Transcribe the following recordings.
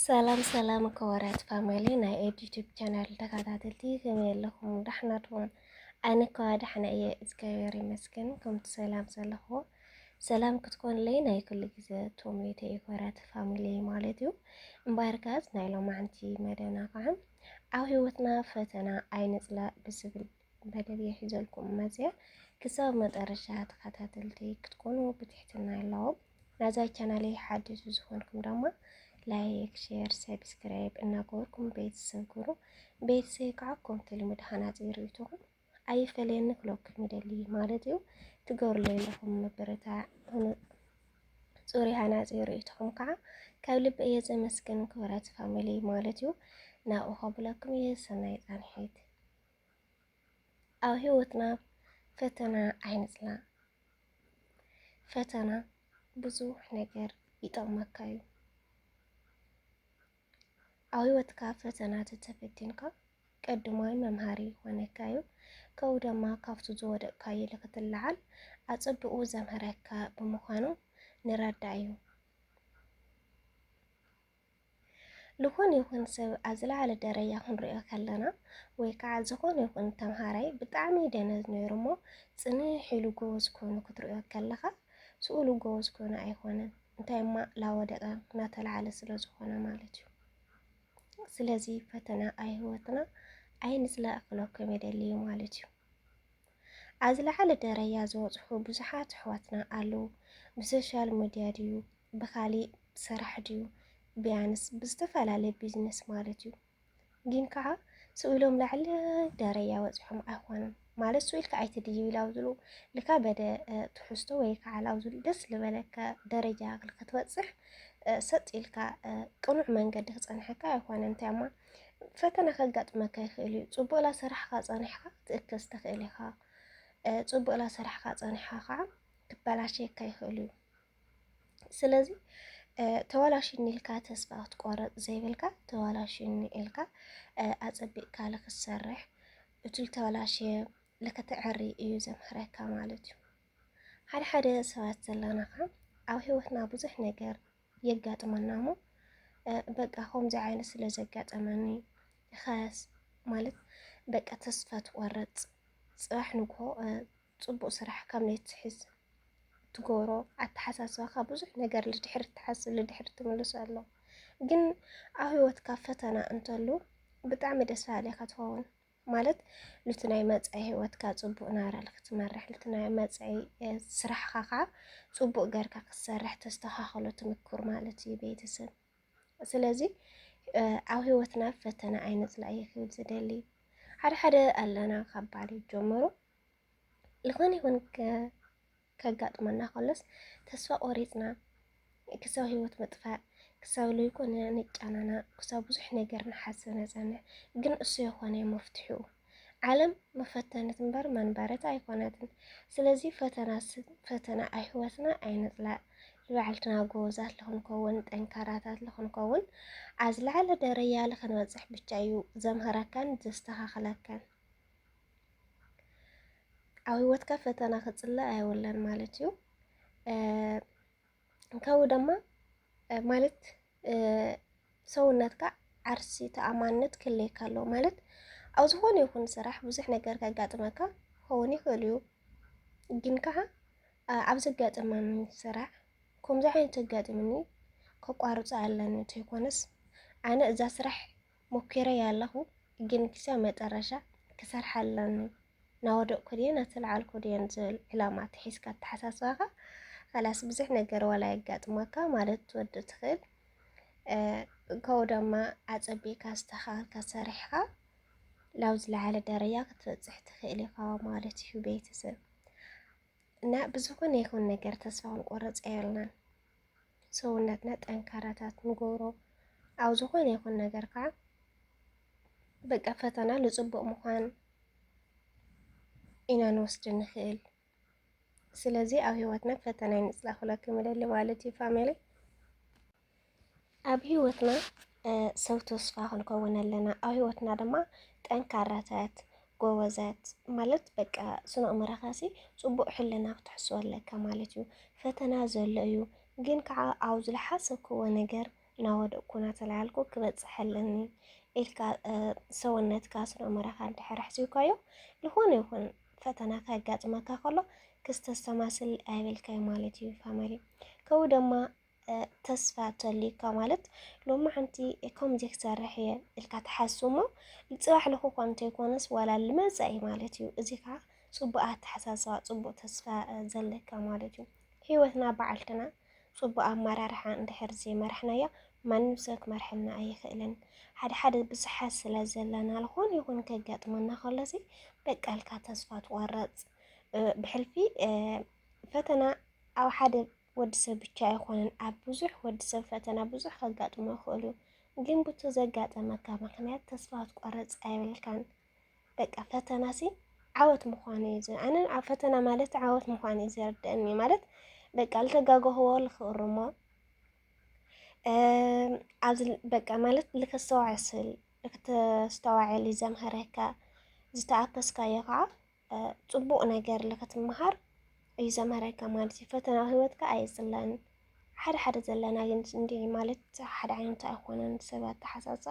ሰላም ሰላም ከወራት ፋሚሊ ናይ ኤድ ዩቲዩብ ቻናል ተከታተልቲ ከመይ ኣለኹም? ዳሕና ድኹም? ኣነ ከዋ ዳሕና እየ እግዚኣብሔር ይመስገን። ከምቲ ሰላም ዘለኹ ሰላም ክትኮንለይ ናይ ኩሉ ግዜ ቶሜተ የኮራት ፋሚሊ ማለት እዩ። እምበኣርካስ ናይ ሎማዕንቲ መደብና ከዓ ኣብ ህይወትና ፈተና ኣይንፅላእ ብዝብል መደብ እየ ሒዘልኩም መፅያ ክሳብ መጠረሻ ተኸታተልቲ ክትኮኑ ብትሕትና ኣለዎም ናዛ ቻናለይ ሓድሽ ዝኾንኩም ድማ ላይክ ሼር ሰብስክራይብ እናገበርኩም ቤተሰብ ግሩ ቤተሰብ ከዓ ኮምቲ ልምድ ሃናፂ ርእይቶኹም ኣይፈለየኒ ክለኩም ይደሊ ማለት እዩ ትገብርለ ኣለኹም ምብርታ ፅሩይ ሃናፂ ርእይቶኹም ከዓ ካብ ልቢ እየ ዘመስግን ክብረት ፋሚሊ ማለት እዩ ናብኡ ከብለኩም እየ ሰናይ ፃንሒት ኣብ ህይወትና ፈተና ኣይንፅላእ። ፈተና ብዙሕ ነገር ይጠቕመካ እዩ። ኣብ ህይወትካ ፈተና ተተፈቲንካ ቀድማይ መምሃሪ ይኾነካ እዩ። ከምኡ ድማ ካብቱ ዝወደቕካዮ ንክትለዓል ኣፀብቑ ዘምህረካ ብምዃኑ ንረዳእ እዩ። ልኾነ ይኹን ሰብ ኣብ ዝለዓለ ደረጃ ክንሪኦ ከለና ወይ ከዓ ዝኾነ ይኹን ተምሃራይ ብጣዕሚ ደነዝ ነይሩ እሞ ፅንሕ ኢሉ ጎበዝ ኮይኑ ክትሪኦ ከለኻ ስእሉ ጎበዝ ኮይኑ ኣይኮነን እንታይ እማ ላወደቀ እናተለዓለ ስለ ዝኾነ ማለት እዩ። ስለዚ ፈተና ኣብ ህይወትና ኣይንፅላእ ክለኩም የደልዩ ማለት እዩ። ኣብ ዝለዓለ ደረጃ ዝበፅሑ ብዙሓት ኣሕዋትና ኣለዉ። ብሶሻል ሚዲያ ድዩ ብካሊእ ሰራሕ ድዩ ብያንስ ብዝተፈላለየ ቢዝነስ ማለት እዩ ግን ከዓ ስእሎም ላዕሊ ደረያ ወፂሖም ኣይኮኑን ማለት ስኡ ኢልካ ኣይትድዩ ላብዝሉ ልካ በደ ትሕዝቶ ወይ ከዓ ላብዝሉ ደስ ዝበለካ ደረጃ ክትበፅሕ ሰጥ ኢልካ ቅኑዕ መንገዲ ክፀንሐካ ኣይኮነ እንታይ እማ ፈተና ከጋጥመካ ይኽእል እዩ ፅቡቅ ላሰራሕካ ፀኒሕካ ትእከስ ትኽእል ኢኻ ፅቡቅ ላሰራሕካ ፀኒሕካ ከዓ ክበላሸየካ ይኽእል እዩ ስለዚ ተዋላሽኒ ኢልካ ተስፋ ክትቆርፅ ዘይብልካ ተዋላሽኒ ኢልካ ኣፀቢቕካ ልክትሰርሕ እቲ ልተዋላሽየ ልክትዕሪ እዩ ዘምሕረካ ማለት እዩ። ሓደ ሓደ ሰባት ዘለና ከ ኣብ ህይወትና ብዙሕ ነገር የጋጥመና እሞ በቃ ከምዚ ዓይነት ስለ ዘጋጠመኒ ኸስ ማለት በቃ ተስፋ ትቆርፅ ፅባሕ ንግሆ ጽቡቅ ስራሕ ካብ ናይ ትሕዝ ትጎሮ ኣተሓሳስባካ ብዙሕ ነገር ልድሕሪ ትሓስብ ልድሕሪ ትምልሶ ኣሎ ግን ኣብ ህይወትካ ፈተና እንተሉ ብጣዕሚ ደስ በሃሊ ኢካ ትኸውን ማለት ንቲ ናይ መጻኢ ህይወትካ ጽቡቅ ናብራ ንክትመርሕ ንቲ ናይ መጻኢ ስራሕካ ከዓ ጽቡቅ ገርካ ክትሰርሕ ተስተካክሎ ትምኩር ማለት እዩ ቤተሰብ። ስለዚ ኣብ ህይወትና ፈተና ኣይነጽላእ እየ ክብል ዝደሊ ሓደ ሓደ ኣለና ካብ ባል ጀምሩ ዝኾነ ይኹን ከጋጥመና ከሎስ ተስፋ ቆሪፅና ክሳብ ህይወት ምጥፋእ ክሳብ ዘይኮነ ንጫናናእ ክሳብ ብዙሕ ነገር ንሓስብ ነፀንዕ ግን እሱ የኾነ መፍትሒኡ ዓለም መፈተነት እምበር መንበረት ኣይኮነትን ስለዚ ፈተና ፈተና ኣይህወትና ኣይንፅላእ ዝበዓልትና ጎበዛት ልኽንከውን ጠንካራታት ልኽንከውን ኣብ ዝለዓለ ደረጃ ልኽንበፅሕ ብቻ እዩ ዘምህረካን ዘስተኻኽለካን ኣብ ህይወትካ ፈተና ክጽላእ ኣይወለን ማለት እዩ ከምኡ ድማ ማለት ሰውነትካ ዓርሲ ተኣማንነት ክለየካ ኣለዎ ማለት ኣብ ዝኾነ ይኹን ስራሕ ብዙሕ ነገር ከጋጥመካ ክኸውን ይኽእል እዩ ግን ከዓ ኣብ ዘጋጥመኒ ስራሕ ከምዚ ዓይነት ዘጋጥምኒ ከቋርፆ ኣለኒ እንተይኮነስ ኣነ እዛ ስራሕ ሞኪረዮ ኣለኹ ግን ክሳብ መጠረሻ ክሰርሓ ኣለኒ ናወደቅኩ ድየ ናተልዓልኩ ድየን ዝብል ዕላማ ተሒዝካ ኣተሓሳስባኻ ኻላስ ብዙሕ ነገር ዋላ የጋጥመካ ማለት ትወድእ ትኽእል ከምኡ ደማ ኣጸቢእካ ኣስተኻኽልካ ሰሪሕኻ ናብ ዝለዓለ ደረጃ ክትበጽሕ ትኽእል ኢኻ ማለት እዩ ቤተሰብ እና ብዝኾነ ይኹን ነገር ተስፋ ክንቆርጽ ኣየብልናን ሰውነትና ጠንካራታት ንገብሮ ኣብ ዝኾነ ይኹን ነገር ከዓ በቃ ፈተና ልፅቡቅ ምኳን ኢና ንወስድ ንኽእል። ስለዚ ኣብ ህይወትና ፈተና ይንፅላ ክብለኩም ይደሊ ማለት እዩ ፋሚሊ። ኣብ ህይወትና ሰው ተስፋ ክንከውን ኣለና። ኣብ ህይወትና ድማ ጠንካራታት ጎበዛት ማለት በቃ ስነ ኣእምሮኻሲ ፅቡቅ ሕልና ክትሕስቦ ኣለካ ማለት እዩ። ፈተና ዘሎ እዩ ግን ከዓ ኣብ ዝለሓሰብክዎ ነገር እናወደቅኩ እናተለዓልኩ ክበፅሕ ኣለኒ ኢልካ ሰውነትካ ስነ ኣእምሮኻ እንድሕር ኣሕሲብካዮ ዝኾነ ይኹን ፈተና ከጋጥመካ ከሎ ክስተሰማስል ኣይብልካይ ማለት እዩ ፋሚሊ ከምኡ ድማ ተስፋ ተልዩካ ማለት ሎሚ ሓንቲ ከምዚ ክሰርሕ እየ ኢልካ ትሓሱ እሞ ንፅባሕ ልኹ እኳ እንተይኮነስ ዋላ ልመፃኢ ማለት እዩ እዚ ከዓ ፅቡቅ ኣተሓሳስባ ፅቡቅ ተስፋ ዘለካ ማለት እዩ ሂወትና በዓልትና ፅቡቅ ኣመራርሓ እንድሕር ዘይመራሕናያ ማንም ሰብ ክመርሐና ኣይኽእልን ሓደ ሓደ ብዙሓት ስለ ዘለና ልኾን ይኹን ከጋጥመና ከሎሲ በቃ ኢልካ ተስፋ ትቆረፅ ብሕልፊ ፈተና ኣብ ሓደ ወዲ ሰብ ብቻ ኣይኾነን ኣብ ብዙሕ ወዲ ሰብ ፈተና ብዙሕ ከጋጥሞ ይኽእል እዩ። ግን ብቱ ዘጋጠመካ ምክንያት ተስፋ ትቆረፅ ኣይብልካን። በቃ ፈተና ሲ ዓወት ምዃኑ እዩ ኣነ ኣብ ፈተና ማለት ዓወት ምዃኑ እዩ ዘርድአኒ ማለት በቃ ልተጋገህዎ ልክእርሞ ኣብዚ በቃ ማለት ልከስተዋዕስል ልክተስተዋዕል እዩ ዘምሀረካ ዝተኣከስካዮ ከዓ ፅቡቕ ነገር ንክትመሃር እዩ ዘምህረካ ማለት እዩ። ፈተና ህይወትካ ኣይፅላን ሓደ ሓደ ዘለና ግን እንዲ ማለት ሓደ ዓይነት ኣይኮነን ሰብ ኣተሓሳሳ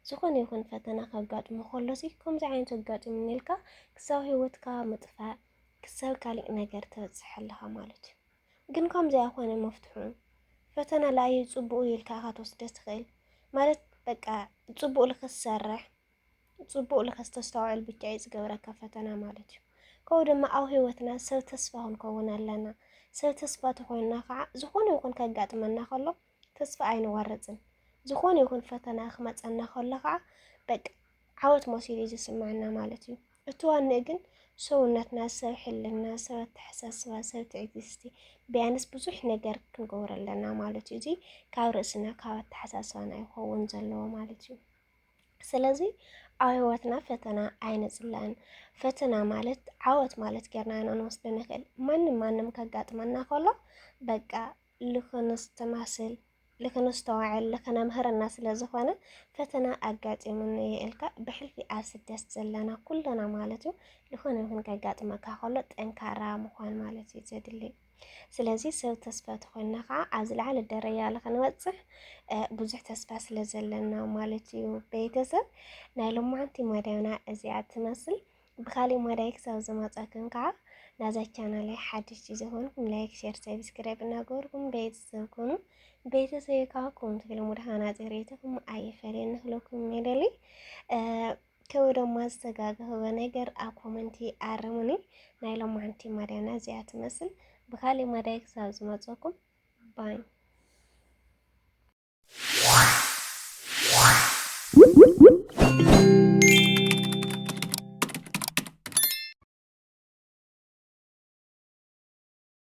ዝኾነ ይኹን ፈተና ከጋጥሞ ከሎ ሲ ከምዚ ዓይነት ኣጋጢሙኒ ኢልካ ክሳብ ህይወትካ ምጥፋእ ክሳብ ካሊእ ነገር ተበፅሕ ኣለኻ ማለት እዩ። ግን ከምዚ ኣይኮነ መፍትሑ ፈተና ላዩ ፅቡቅ ኢልካ ኢኻ ትወስደ ትኽእል ማለት በቃ ፅቡቅ ልክትሰርሕ ጽቡቕ ልከስተስተውዕል ብቻ እዩ ዝገብረካ ፈተና ማለት እዩ። ከምኡ ድማ ኣብ ህይወትና ሰብ ተስፋ ክንከውን ኣለና። ሰብ ተስፋ ተኾይንና ከዓ ዝኾነ ይኹን ከጋጥመና ከሎ ተስፋ ኣይንወርፅን። ዝኾነ ይኹን ፈተና ክመፀና ከሎ ከዓ በቃ ዓወት መሲሉ እዩ ዝስምዐና ማለት እዩ። እቲ ዋንእ ግን ሰውነትና ሰብ ሕልና፣ ሰብ ኣተሓሳስባ፣ ሰብ ትዕግስቲ ቢያንስ ብዙሕ ነገር ክንገብር ኣለና ማለት እዩ። እዚ ካብ ርእስና ካብ ኣተሓሳስባና ይኸውን ዘለዎ ማለት እዩ። ስለዚ ኣብ ህይወትና ፈተና ኣይንጽላእን። ፈተና ማለት ዓወት ማለት ጌርና ኢና ንወስዶ ንኽእል። ማንም ማንም ከጋጥመና ከሎ በቃ ልኽንስተማስል ልኽንስተዋዕል ልኽነምህረና ስለ ዝኾነ ፈተና ኣጋጢሙኒ እዩ ኢልካ ብሕልፊ ኣብ ስደት ዘለና ኩልና ማለት እዩ ዝኾነ ይኹን ከጋጥመካ ከሎ ጠንካራ ምዃን ማለት እዩ ዘድልይ። ስለዚ ሰብ ተስፋ ተኾይና ከዓ ኣብ ዝለዓለ ደረጃ ንክንበፅሕ ብዙሕ ተስፋ ስለ ዘለና ማለት እዩ። ቤተሰብ ናይ ሎማዓንቲ መዳይና እዚኣ ትመስል። ብካሊእ መዳይ ክሳብ ዝመፀክን ከዓ ናዛ ቻናላይ ሓድሽ ዝኾንኩም ላይክ፣ ሼር፣ ሰብስክራይብ እናገበርኩም ቤተሰብ ኮኑ። ቤተሰብ ከዓ ከምቲ ልሙድ ሃናፂ ርኢቶኹም ኣይፈለየና ክለኩም ይደሊ ከው ድማ ዝተጋገበ ነገር ኣብ ኮመንቲ ኣርሙኒ ናይ ሎማንቲ ማዳና እዚኣ ትመስል ብካሊእ ማዳይ ክሳብ ዝመፀኩም ባይ